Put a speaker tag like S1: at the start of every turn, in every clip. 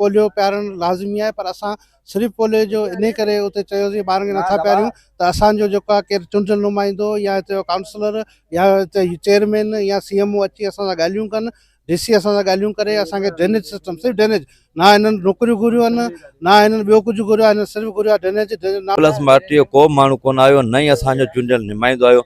S1: Polio پيارڻ لازمي آهي پر اسان صرف پوليو جو انهي ڪري اتي چيوسين ٻارن کي نٿا پياريون ته اسان جو جيڪو آهي ڪير چونڊيل نمائندو يا هتي جو ڪائونسلر يا هتي جي چيئرمين يا سي ايم او اچي اسان سان ڳالهيون ڪن ڊي سي اسان سان ڳالهيون ڪري اسان کي ڊرينيج سسٽم صرف ڊرينيج نه هنن نوڪريون گهريون آهن نه هنن ٻيو ڪجهه گهريو آهي هنن صرف گهريو آهي ڊرينيج ڊرينيج نه پلس مارٽيء جو
S2: ڪو به ماڻهو ڪونه آيو نه ئي اسان جو چونڊيل نمائندو آيو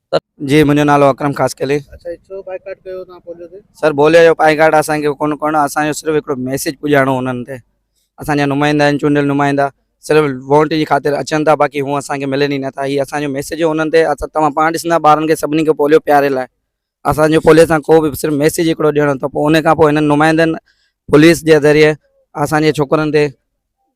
S2: جي منهنجو
S3: نالو اڪرم خاصخيلي. اچا هي ڇو بائيڪاٽ
S1: ڪيو توهان پوليو تي. سر بوليو جو پائيڪاٽ
S3: اسان کي ڪون ڪرڻو اسان جو صرف هڪڙو ميسيج پڄائڻو انهن تي اسان جا نمائندا آهن چونڊيل نمائندا صرف وونٽ جي خاطر اچن ٿا باقي هون اسان کي ملن ئي نٿا هي اسان جو ميسيج انهن تي اسان توهان پاڻ ڏسندا ٻارن کي سڀني کي پوليو پياري لاء اسان جو پوليو سان ڪو به صرف ميسيج هڪڙو ڏيڻو ته پوء ان کان پوء هنن نمائندن پوليس جي ذريعي اسان جي ڇوڪرن تي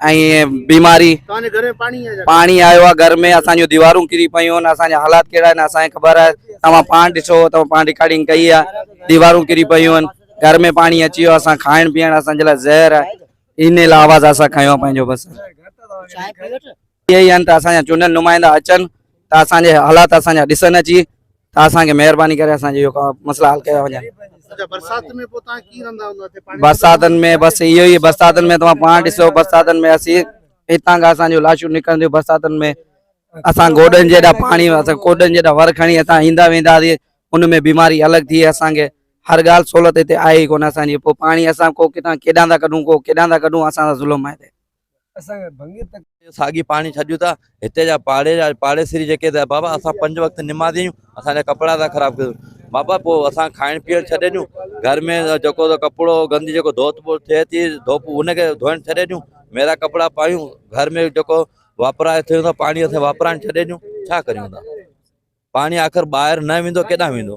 S3: ۽ بيماري
S1: پاڻي آيو آ
S3: گهر ۾ اسان جو ديوارون ڪري پيون ان اسان جا حالات ڪهڙا آهن اسان کي خبر آهي توهان پاڻ ڏسو توهان پاڻ رڪارڊنگ ڪئي آ ديوارون ڪري پيون آهن گهر ۾ پاڻي اچي ويو اسان کائڻ پيئڻ اسان جي لاء زهر آهي ان لاء آواز اسان کنيو پنهنجو بس اهي ئي آهن ته اسان جا چونڊيل نمائندا اچن ته اسان جي حالات اسان جا ڏسن اچي ته اسان کي مهرباني ڪري اسان جي اهو ڪا مسئلا حل ڪيا وڃن. اچا برسات ۾
S1: پوء توهان ڪيئن رهندا هوندا اتي پاڻي برساتن
S3: ۾ بس اهو ئي برساتن ۾ توهان پاڻ ڏسو برساتن ۾ اسين هتان کان اسان جون لاشون نڪرنديون برساتن ۾ اسان گوڏن جيڏا پاڻي اسان گوڏن جيڏا ور کڻي هتان ايندا ويندا سين ان ۾ بيماري الڳ ٿئي اسان کي هر ڳالهه سهولت هتي آهي ئي ڪونه اسان جي پوء پاڻي اسان ڪو ڪٿان ڪيڏانهن ٿا ڪڍون ڪو ڪيڏانهن ٿا ڪڍون اسان سان ظلم آهي هتي. اسان کي ڀنگي تڪ.
S2: ساڳي پاڻي ڇڏيون ٿا هتي جا پاڙي جا پاڙيسري جيڪي ته بابا اسان پنج وقت نمازي آهيون اسان جا ڪپڙا ٿا خراب ڪيو بابا پوء اسان کائڻ پيئڻ ڇڏي ڏيون گهر ۾ جيڪو ته ڪپڙو گندي جيڪو ڌوت ٻوت ٿئي ٿي ڌوپ ان کي ڌوئڻ ڇڏي ڏيون ميرا ڪپڙا پايون گهر ۾ جيڪو واپرائي ٿيو ٿا پاڻي اسان واپرائڻ ڇڏي ڏيون ڇا ڪريون ٿا پاڻي آخر ٻاهر نه ويندو ڪيڏانهن ويندو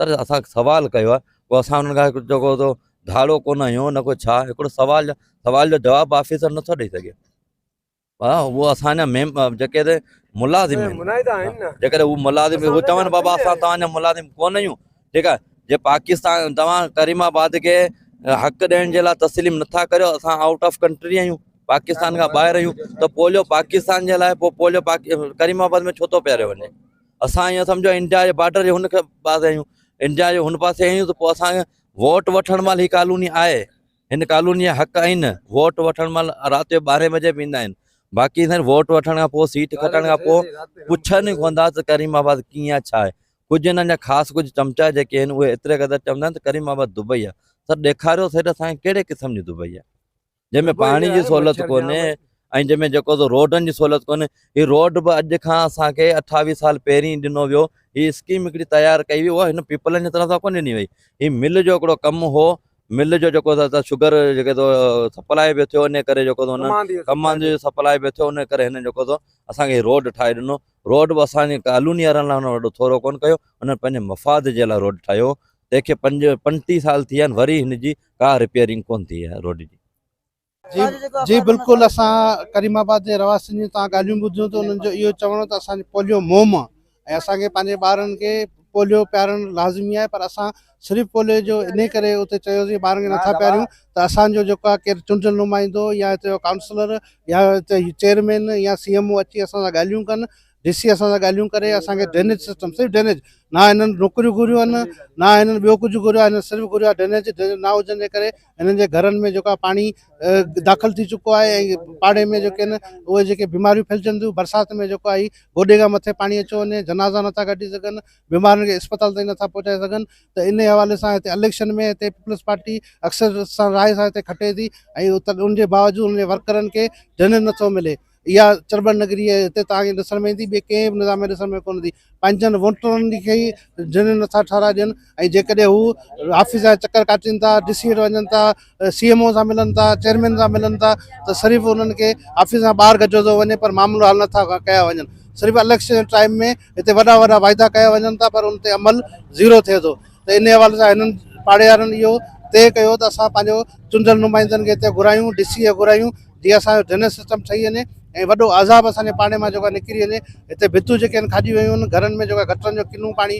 S2: سر اسان سوال ڪيو آهي پوء اسان انهن کان جيڪو تو ڌاڙو ڪونه آهيون نه ڪو ڇا هڪڙو سوال سوال جو جواب آفيسر نٿو ڏيئي سگهي ها هو اسان جا ميم جيڪي ته ملازم آهن جيڪڏهن هو ملازم هو چون بابا اسان توهان جا ملازم ڪونه آهيون ٺيڪ آهي جي پاڪستان توهان ڪريم آباد کي حق ڏيڻ جي لاء تسليم نٿا ڪريو اسان آؤٽ آف ڪنٽري آهيون پاڪستان کان ٻاهر آهيون ته پوليو پاڪستان جي لاء پوليو ڪريم آباد ۾ ڇو ٿو پياريو وڃي اسان ايئن سمجهو انڊيا جي بارڊر جي هن پاسي آهيون انڊيا جي هن پاسي آهيون ته پوء اسانکي ووٽ وٺڻ مهل هي ڪالوني آهي هن ڪالوني جا حق آهن ووٽ وٺڻ مهل رات جو ٻارهين بجي به ايندا آهن باقي سائين ووٽ وٺڻ کان پوء سيٽ کٽڻ کان پوء پڇن ئي ڪوندا ته ڪريم آباد ڪيئن آهي ڇا آهي ڪجهه هنن جا خاص ڪجهه چمچا جيڪي آهن اهي ايتري قدر چوندا آهن ته ڪريم آباد دبئي آهي سر ڏيکاريو سيٽ اسانکي ڪهڙي قسم جي دبئي آهي جنهن ۾ پاڻي جي سهولت ڪونهي ۽ جنهن ۾ جيڪو سو روڊن جي سهولت ڪونهي هي روڊ به اڄ کان اسان کي اٺاويهه سال پهرين ڏنو ويو هي اسڪيم هڪڙي تيار ڪئي وئي اها هن پيپلن جي طرف سان ڪونه ڏني وئي هي مل جو هڪڙو ڪم هو مل جو جيڪو شگر جيڪو سو سپلائي به ٿيو ان ڪري جيڪو سو هن ڪمان جي سپلائي به ٿيو ان ڪري هن جيڪو سو اسانکي روڊ ٺاهي ڏنو روڊ به اسانجي ڪالوني وارن لاء هن وڏو ٿورو ڪونه ڪيو هن پنهنجي مفاد جي لاء روڊ ٺاهيو تنهن کي پنج پنٽيهه سال ٿي ويا آهن وري هن جي ڪا رپيئرنگ ڪونه ٿي آهي روڊ جي. جي
S1: جي بلڪل اسان ڪريم آباد جي رهواسين جون توهان ڳالهيون ٻڌيون ته انهن جو اهو چوڻ هو ته اسان جي پوليو موم ۽ اسان کي پنهنجي ٻارن کي پوليو پيارڻ لازمي آهي پر اسان صرف پوليو جو انهي ڪري اتي چيوسين ٻارن کي نٿا پياريون ته اسان جو جيڪو آهي ڪير چونڊيل نمائندو يا هتي جو ڪائونسلر يا هتي چيئرمين يا سي ايم او اچي اسان سان ڳالهيون ڪن ڊي سي اسان سان ڳالهيون ڪري اسان کي ڊرينيج سسٽم صرف ڊرينيج نه هنن نوڪريون گهريون آهن نه هنن ٻيو ڪجهه گهريو آهي هنن صرف گهريو آهي ڊرينيج ڊرينيج نه هجڻ جي ڪري هنن جي گهرن ۾ جيڪو پاڻي داخل ٿي چڪو آهي ۽ پاڙي ۾ جيڪي آهن اهي جيڪي بيماريون ڦهلجن ٿيون برسات ۾ جيڪو آهي گوڏي کان مٿي پاڻي اچيو وڃي جنازا نٿا ڪڍي سگهن بيمارن کي اسپتال تائين نٿا پهچائي سگهن ته ان حوالي سان هتي اليڪشن ۾ هتي پيپلز پارٽي اڪثر سان راء سان هتي کٽي ٿي ۽ ان جي باوجود ان جي ورڪرن کي ڊرينيج نٿو ملي اها چرٻن نگري ۽ هتي توهان کي ڏسڻ ۾ ايندي، ٻئي ڪنهن به نظام ۾ ڏسڻ ۾ ڪونه ايندي. پنهنجن ووٽرن کي ئي ڌڻي نٿا ٺهرائي ڏين ۽ جيڪڏهن هو آفيسن جا چڪر ڪاٽين ٿا، ڊي سي وٽ وڃن ٿا، سي ايم او سان ملن ٿا، چيئرمين سان ملن ٿا ته صرف انهن کي آفيسن کان ٻاهر گجهيو ٿو وڃي پر معاملو حل نٿا ڪيا وڃن. صرف اليڪشن جي ٽائيم ۾ هتي وڏا وڏا واعدا ڪيا وڃن ٿا پر ان تي عمل زيرو ٿئي ٿو ته انهي حوالي سان هنن پاڙيارن اهو طئي ڪيو ته اسان پنهنجو چونڊيل نمائندن کي هتي گهرايون، ڊي سي کي گهرايون، جيئن اسان جو ڊرينيج سسٽم ٺهي وڃي ۽ وڏو عذاب اسان جي پاڙي مان جيڪو نڪري وڃي هتي ڀتيون جيڪي آهن کاڄي ويون آهن گهرن ۾ جيڪو گٽرن جو ڪنو پاڻي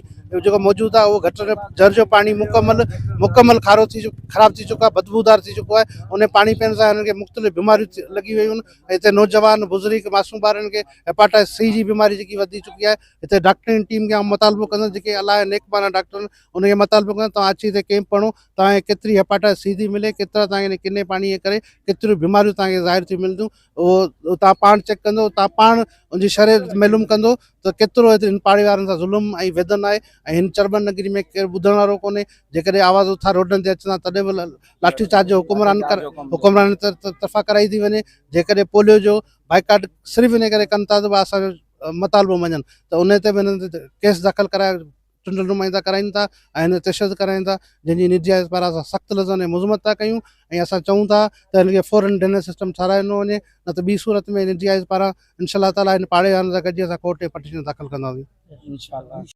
S1: جيڪو موجود آهي اهو گٽر جر جو پاڻي مڪمل مڪمل کارو ٿي خراب ٿي چڪو آهي بدبودار ٿي چڪو آهي ان پاڻي پيئڻ سان هنن کي مختلف بيماريون لڳي ويون آهن ۽ هتي نوجوان بزرگ معصوم ٻارن کي هيپاٽائس سي جي بيماري جيڪي وڌي چڪي آهي هتي ڊاڪٽرن جي ٽيم کي آئون مطالبو ڪندس جيڪي الاهي نيڪ بانه ڊاڪٽر ان کي مطالبو ڪندس تون اچي هتي ڪيمپ هڻو توهان کي ڪيتري هيپاٽائٽس سي ٿي ملي ڪيترا توهان کي ان ڪني پاڻي جي ڪري ڪيتريون بيماريون توهان کي ظاهر ٿيون ملنديون اهو توهان پاڻ چيڪ ڪندو توهان پاڻ ان جي شرح معلوم ڪندو ته ڪيترو هيتري هن پاڙي وارن سان ظلم ۽ ويدن آهي ۽ هن چرٻن نگري ۾ ڪير ٻڌڻ وارو ڪونهي جيڪڏهن آواز اٿار روڊن تي اچن ها تڏهن به لاٺي چارج جو حڪمران حڪمران طرفان ڪرائي ٿي وڃي جيڪڏهن پوليو جو بائڪاٽ صرف ان ڪري ڪن ٿا ته اسانجو مطالبو مڃن ته ان تي به هنن تي ڪيس داخل ڪرائي چونڊيل نمائندا ڪرائين ٿا ۽ هن تي تشدد ڪرائين ٿا جنهن جي نيٽ جايز پاران اسان سخت لفظن ۾ مذمت ٿا ڪيون ۽ اسان چئون ٿا ته هن کي فورن ڊنر سسٽم ٺهرايو ڏنو وڃي نه ته ٻي صورت ۾ نيٽ جايز پاران انشاء الله تعالي هن پاڙي وارن سان گڏجي اسان ڪورٽ ۾ پٽيشن داخل ڪنداسين.